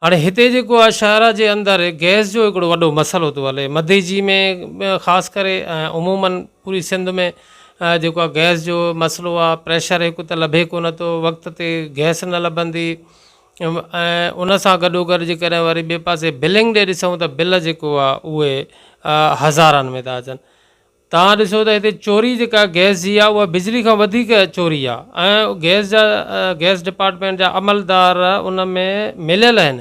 هاڻي هتي جيڪو آهي شاهراهه جي اندر گئس جو هڪڙو وڏو مسئلو ٿو هلي مڌي جي ۾ خاص ڪري ۽ عموماً پوري سنڌ ۾ جيڪو آهي گئس جو مسئلو آهي پريشر هڪ ته لڀي ڪونه ٿو وقت تي گئس نه لڀندي ۽ ان سان گڏو گڏ جي ڪڏهن وري ٻئي پاسي بلنگ ڏي ڏسون ته بل جيڪو آهي اهي هزارن ۾ ٿا اچن توهان ڏسو ته هتي چوري جيڪا گئس جي آهي اها بجلي کان وڌيڪ چوري آهي ۽ گئس جا گئس ڊپارٽمينٽ جا عملدار ان ۾ مليل آهن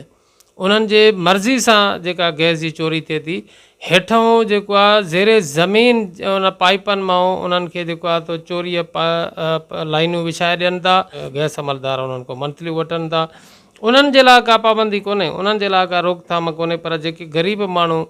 انهن جي مرضي سان جيڪا گئس جي چوري ٿئي ٿي هيٺئون جيڪو آهي زير زمين ان پائيپن مان انهن کي جيڪو آهي تو چوري لائينون وڇائي ڏين ٿا گئس عملدار انهن کان منٿليون وٺن ٿا انهن جي لاء ڪا پابندي ڪونهي انهن جي لاء ڪا روڪٿام ڪونهي پر جيڪي غريب ماڻهو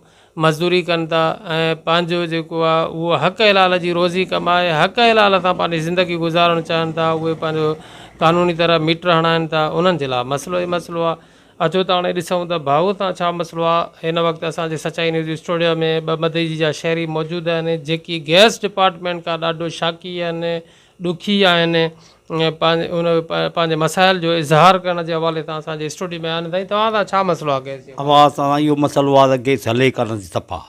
مزدوري ڪن ٿا ۽ پنهنجو جيڪو آهي اهو حق حلال جي روزي ڪمائي حق حلال سان پنهنجي زندگي گذارڻ چاهن ٿا اهي پنهنجو قانوني طرح ميٽر هڻائين ٿا انهن جي لاء مسئلو ئي مسئلو آهي اچو ته هاڻي ڏسون ته ڀائو تان ڇا مسئلو آهي هن وقت اسان جي سچائي نيوز اسٽوڊيو ۾ ٻه مدئجي جا شهري موجود آهن جيڪي گئس ڊپارٽمينٽ کان ڏاڍو شاقي آهن ڏکي آهن ان پنهنجي مسائل جو اظهار ڪرڻ جي حوالي سان اسان جي اسٽوڊيو ۾ آهن سائين توهان سان ڇا مسئلو آ گئس جو. اوهان سان سائين اهو مسئلو آ ته گئس هلي ڪا نٿي صفا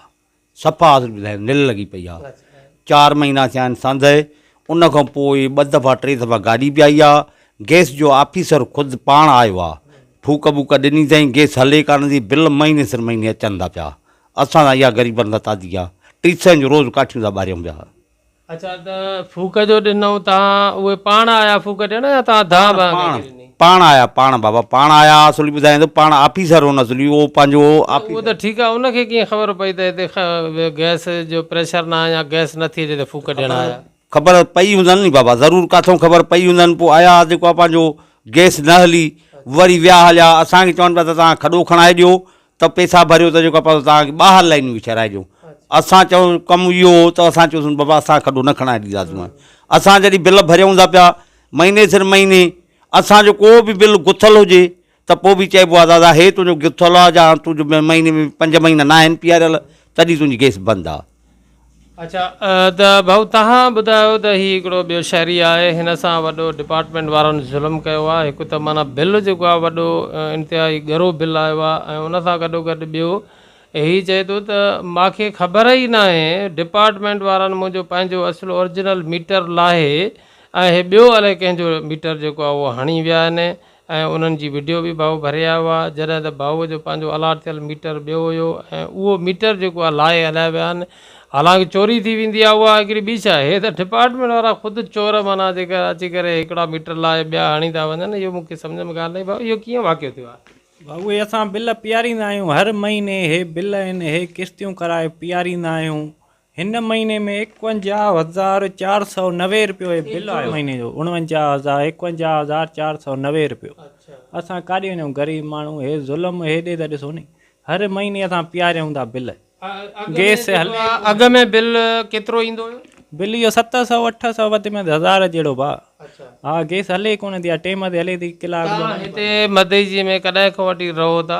صفا اصل ٻڌايان نل لڳي پئي آ چار مهينا ٿيا آهن سانده ان کان پوء ٻه دفعا ٽي دفعا گاڏي به آئي آ گئس جو آفيسر خود پاڻ آيو آ ڦوڪ ٻوڪ ڏني اٿائين گئس هلي ڪا نٿي بل مهيني سر مهيني اچن ٿا پيا اسان سان اها غريبن سان تعدي آ ٽي سئن جو روز ڪاٺيون ٿا ٻاريون پيا. اچا ته ڦوڪ جو ڏنئون تان اهي پاڻ آيا ڦوڪ ڏيڻ يا تان ڌا ڀان کي ڏني؟ پاڻ آيا پاڻ بابا پاڻ آيا اصل ٻڌايان ٿو پاڻ آفيسر هو اصل اهو پنهنجو اهو ته ٺيڪ آ ان کي ڪيئن خبر پئي ته هتي گئس جو پريشر نه آ يا گئس نٿي اچي ته ڦوڪ ڏيڻ آيا؟ خبر پئي هوندن ني بابا ضرور ڪاٿئون خبر پئي هوندن پوء آيا جيڪو آ پنهنجو گئس نه هلي وري ويا هليا اسان کي چون پيا ته تان کڏو کڻائي ڏيو ته پيسا ڀريو ته جيڪو آهي پاسو توهان کي ٻاهر لائنون به ٺهرائي ڏيون اسان چئون ڪم اهو هو ته اسان چيوسون بابا اسان کڏو نه کڻائي ڏينداسون اسان جڏهن بل ڀريون ٿا پيا مهيني سر مهيني اسان جو ڪو به بل گٿل هجي ته پوء به چئبو آهي دادا هي تنهنجو گٿل آهي جا تنهنجو مهيني ۾ پنج مهينا ناهن پياريل تڏهن تنهنجي گيس بند آهي اڇا ته ڀائو تهان ٻڌايو ته هي هڪڙو ٻيو شهري آهي هن سان وڏو ڊپارٽمينٽ وارن ظلم ڪيو آهي هڪ ته معنيٰ بل جيڪو آهي وڏو انتهائي ڳرو بل آيو آهي ۽ ان سان گڏو گڏ ٻيو هي چئي ٿو ته ماکي خبر ئي ناهي ڊپارٽمينٽ وارن منهنجو پنهنجو اصل اورجنل ميٽر لاهي ۽ هي ٻيو الائي ڪنهن جو ميٽر جيڪو آهي اهو هڻي ويا آهن ۽ انهن جي وڊيو به ڀائو ڀري آيو آ جڏهن ته ڀائو جو پنهنجو الاٽ ٿيل ميٽر ٻيو هيو ۽ اهو ميٽر جيڪو آ لاهي هلائي ويا آهن حالانڪ چوري ٿي ويندي آ اها هڪڙي ٻي شئي هي ته ڊپارٽمينٽ وارا خود چور معنيٰ جيڪا اچي ڪري هڪڙا ميٽر لاهي ٻيا هڻي ٿا وڃن اهو مون کي سمجهه ۾ ڳالهه نه آئي ڀائو اهو ڪيئن واقعو ٿيو آهي. ڀائو اهي اسان بل پيئاريندا آهيون هر مهيني اهي بل آهن اهي قسطيون ڪرائي پيئاريندا آهيون هن مهيني ۾ ايڪونجاهه هزار چار سؤ نوي رپيو هي بل آيو مهيني جو اڻونجاهه هزار ايڪونجاهه هزار چار سؤ نوي رپيو اسان ڪاڏي وڃون غريب ماڻهو هي ظلم هيڏي ته ڏسو ني هر مهيني اسان پياريون ٿا بل گيس هلي ٿو اڳ ۾ بل ڪيترو ايندو هيو بل اهو ست سؤ اٺ سؤ وڌ ۾ وڌ هزار جهڙو ڀاء ها گيس هلي ڪونه ٿي ها ٽيم تي هلي ٿي ڪلاڪ ٻه توهان هتي مدئجي ۾ ڪڏهن کان وٺي رهو ٿا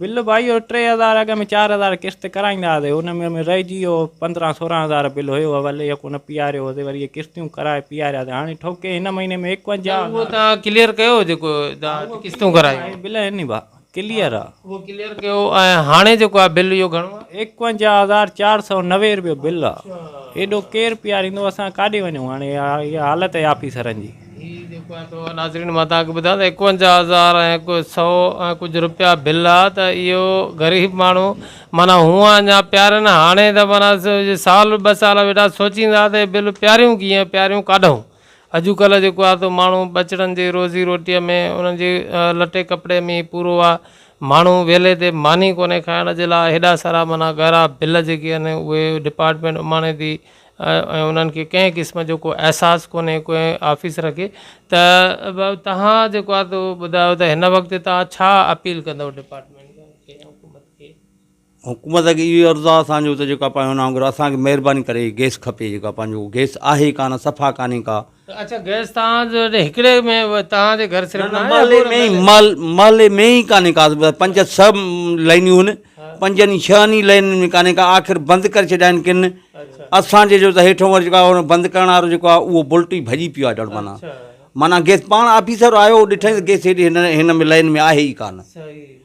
بل ڀائيو ٽي هزار اڳ ۾ چار هزار قسط ڪرائيندا هئاسي ان ۾ ۾ رهجي ويو پندرهن سورهن هزار بل هيو اول اهي ڪونه پياريو هوسي وري اهي قسطيون ڪرائي پيارياسي هاڻي ٺوڪي هن مهيني ۾ ايڪونجاهه هزار اهو تان ڪليئر ڪيو جيڪو تان قسطون ڪرايون اهي بل هن ڀا ڪليئر آ اهو ڪليئر ڪيو ۽ هاڻي جيڪو آ بل اهو گهڻو آ ايڪونجاهه هزار چار سؤ نوي روپيو بل آ ايڏو ڪير پياريندو اسان ڪاڏي وڃون هاڻي اها حالت آهي آفيسرن جي. هي جيڪو آهي سو ناظرين مان توهان کي ٻڌان ته ايڪونجاهه هزار ۽ هڪ سئو ۽ ڪجهه روپيا بل آ ته اهو غريب ماڻهو معنيٰ هونء اڃا پيارين هاڻي ته معنيٰ سال ٻه سال ويٺا سوچيندا ته هي بل پياريون ڪيئن پياريون ڪاڍئون اڄ ڪلهه جيڪو آهي سو ماڻهو ٻچڙن جي روزي روٽيء ۾ انهن جي لٽي ڪپڙي ۾ ئي پورو آ ماڻهو ويلي تي ماني ڪونهي کائڻ جي لاء هيڏا سارا معنيٰ ڳارا بل جيڪي آهن اهي ڊپارٽمينٽ اماڻي ٿي ۽ انهن کي ڪنهن قسم جو ڪو احساس ڪونهي ڪنهن آفيسر کي ته توهان جيڪو آهي تو ٻڌايو ته هن وقت توهان ڇا اپيل ڪندو ڊپارٽمينٽ کي ۽ حڪومت کي. حڪومت کي اهو عرض آهي اسان جو ته جيڪو پنهنجو نانگ اسان کي مهرباني ڪري گيس کپي جيڪو پنهنجو گيس آهي ڪانه صفا ڪانهي ڪا اڇا گئس تان جو هڪڙي ۾ تان جي گهر صرف مالي مي مال مالي مي هي ڪاني ڪا پنج سه لائنيون هن پنجن هي ڇهن هي لائنيون ۾ ڪاني ڪا آخر بند ڪري ڇڏيائين ڪن اسان جي جو ته هيٺون ور جيڪا بند ڪرڻ وارو جيڪو آ اهو بلٽي ڀڄي پيو آ ڏڙ مانا مانا گئس پاڻ آفيسر آيو ڏٺائين گئس هيڏي هن هن ۾ لائين ۾ آهي هي ڪانه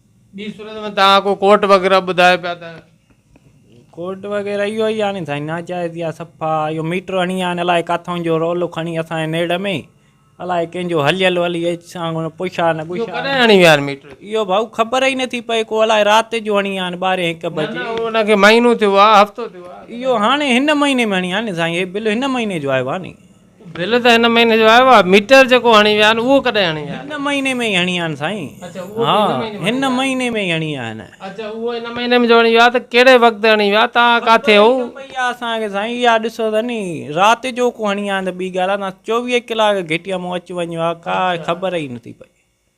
ٻي صورت ۾ توهان ڪو ڪورٽ وغيره ٻڌايو پيا ته. ڪورٽ وغيره اهو ئي آهي ني سائين ناجائز يا صفا اهو ميٽر هڻي آهي ني الائي ڪاٿون جو رولو کڻي اسان جي نيڙ ۾ الائي ڪنهن جو هليل هلي اچ سان ڪونه پڇا نه گڇا. اهو ڪڏهن هڻي ويا آهن ميٽر. اهو ڀائو خبر ئي نٿي پئي ڪو الائي رات جو هڻي آهن ٻارهين هڪ بجي. نه نه ان کي مهينو ٿيو آهي هفتو ٿيو آهي. اهو هاڻي هن مهيني ۾ هڻي آهي ني سائين هي بل هن مهيني جو آيو آهي ني بل ته هن مهيني جو آيو آ ميٽر جيڪو هڻي ويا آهن اهو ڪڏهن هڻي ويا آهن. هن مهيني ۾ ئي هڻي ويا آهن سائين. اڇا اهو به هن مهيني ۾ هڻي ويا. هن مهيني ۾ ئي هڻي ويا آهن. اڇا اهو هن مهيني ۾ جو هڻي ويا ته ڪهڙي وقت هڻي ويا توهان ڪاٿي هئو. خبر ئي نه پئي آ اسان کي سائين اها ڏسو ته ني رات جو ڪو هڻي ويا آهن ته ٻي ڳالهه آ نه چوويهه ڪلاڪ گهٽيء مون اچ وڃ آ ڪا خبر ئي نه ٿي پئي.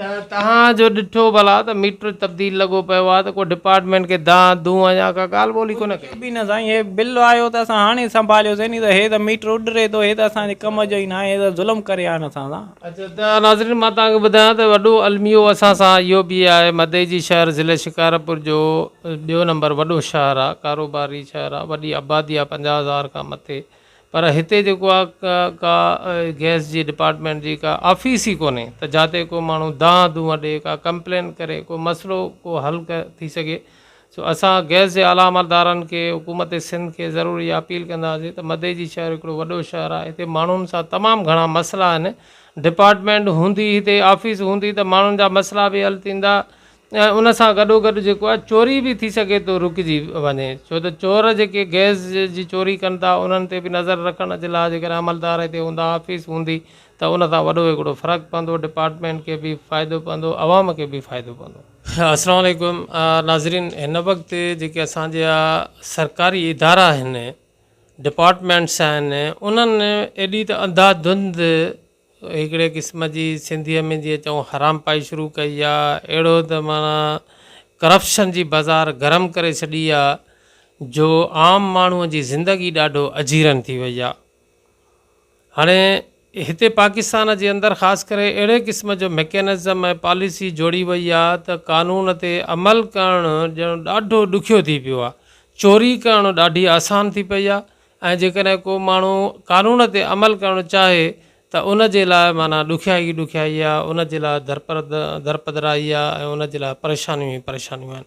ته توهان جو ڏٺو ڀلا ته ميٽر تبديل لڳو پيو آهي ته ڪو ڊپارٽمينٽ کي دانهن دونهن يا ڪا ڳالهه ٻولهه ڪونه ڪئي. ڪجهه به نه سائين هي بل آيو ته اسان هاڻي سنڀاليوسين ني ته هي ته ميٽر اڏري ٿو هي ته اسان جي ڪم جو ئي ناهي هي ته ظلم ڪري آهن اسان سان. اچا ته ناظرين مان توهان کي ٻڌايان ته وڏو الميو اسان سان اهو به آهي مدئي جي شهر ضلعي شڪارپور جو ٻيو نمبر وڏو شهر آهي ڪاروباري شهر آهي وڏي آبادي آهي پنجاهه هزار کان مٿي پر هتي جيڪو آ ڪا گئس جي ڊپارٽمينٽ جي ڪا آفيس ئي ڪونهي ته جاتي ڪو ماڻهو دانهن دونهن ڏي ڪا ڪمپلين ڪري ڪو مسئلو ڪو حل ٿي سگهي سو اسان گئس جي اعليٰ عملدارن کي حڪومت سنڌ کي ضرور اها اپيل ڪنداسين ته مدي جي شهر هڪڙو وڏو شهر آ هتي ماڻهن سان تمام گهڻا مسئلا آهن ڊپارٽمينٽ هوندي هتي آفيس هوندي ته ماڻهن جا مسئلا به حل ٿيندا ۽ ان سان گڏوگڏ جيڪو آهي چوري به ٿي سگهي ٿو رڪجي وڃي ڇو ته چور جيڪي گئس جي چوري ڪن ٿا انهن تي به نظر رکڻ جي لاء جيڪڏهن عملدار هتي هوندا آفيس هوندي ته ان سان وڏو هڪڙو فرق پوندو ڊپارٽمينٽ کي به فائدو پوندو عوام کي به فائدو پوندو. السلام عليڪم ناظرين هن وقت جيڪي اسان جا سرڪاري ادارا آهن ڊپارٽمينٽس آهن انهن ايڏي ته انڌا ڌنڌ هڪڙي قسم جي سنڌيء ۾ جيئن چئون حرامپائي شروع ڪئي آ، اهڙو ته معنيٰ ڪرپشن جي بازار گرم ڪري ڇڏي آ جو عام ماڻهوء جي زندگي ڏاڍو اجيرن ٿي وئي آ. هاڻي هتي پاڪستان جي اندر خاص ڪري اهڙي قسم جو مڪينزم ۽ پاليسي جوڙي وئي آ ته قانون تي عمل ڪرڻ ڄڻ ڏاڍو ڏکيو ٿي پيو آ. چوري ڪرڻ ڏاڍي آسان ٿي پئي آ، ۽ جيڪڏهن ڪو ماڻهو قانون تي عمل ڪرڻ چاهي ته ان جي لاء معنيٰ ڏکيائي ئي ڏکيائي آهي، ان جي لاء درپدرائي آهي ۽ ان جي لاء پريشانيون ئي پريشانيون آهن.